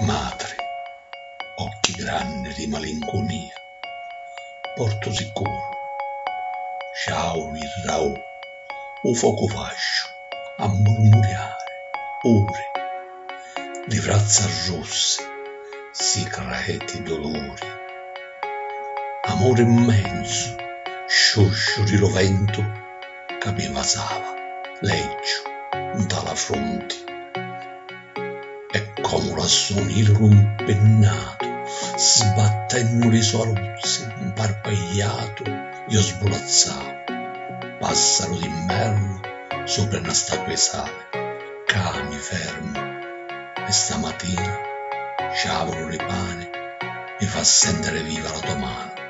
Matri, occhi granni di malincunia, portu sicuru, sciau virrau u focu vasciu a murmuriari uri, li vrazza russi si creti duluri. Amuri mmenzu, sciusciu di lu ventu ca mi vasava leggiu nta la frunti. E comu l'assuni il rumpinnatu sbattennu li so aruzzi 'mparpagliatu io sbulazzau passaru d'invernu supra na statua 'i sali cca mi fermu e stamatina ciavulu li pani mi fa sentiri viva la to manu.